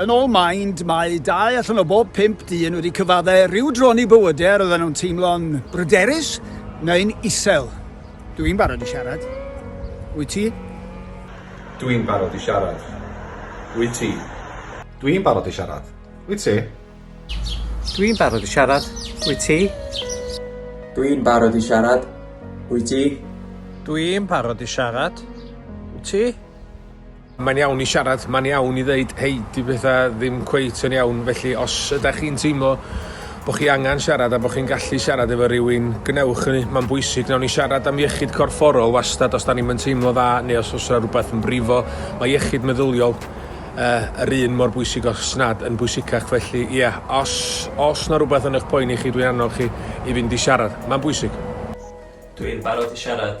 Yn ôl Mind, mae dau allan o bob pump dyn wedi cyfaddau rhyw dron i bywydau a roedden nhw'n teimlo'n bryderus neu'n isel. Dw i'n barod i siarad. Wyt ti? Dw i'n barod i siarad. Wyt ti? Dw i'n barod i siarad. Wyt ti? Dw i'n barod i siarad. Wyt ti? Dw i'n barod i siarad. Wyt ti? Dw i'n barod i siarad. Wyt ti? Mae'n iawn i siarad, mae'n iawn i ddeud hei, 'di pethau ddim cweit yn iawn, felly os ydych chi'n teimlo bod chi angen siarad a bod chi'n gallu siarad efo rhywun, gwnewch hynny, mae'n bwysig. Wnawn ni siarad am iechyd corfforol wastad os da ni'n yn teimlo dda neu os oes rhywbeth yn brifo. Mae iechyd meddyliol uh, yr un mor bwysig os nad yn bwysicach, felly ie, yeah, os, os na rhywbeth yn eich poeni chi, dwi'n annog chi i fynd i siarad. Mae'n bwysig. Dwi'n barod i siarad.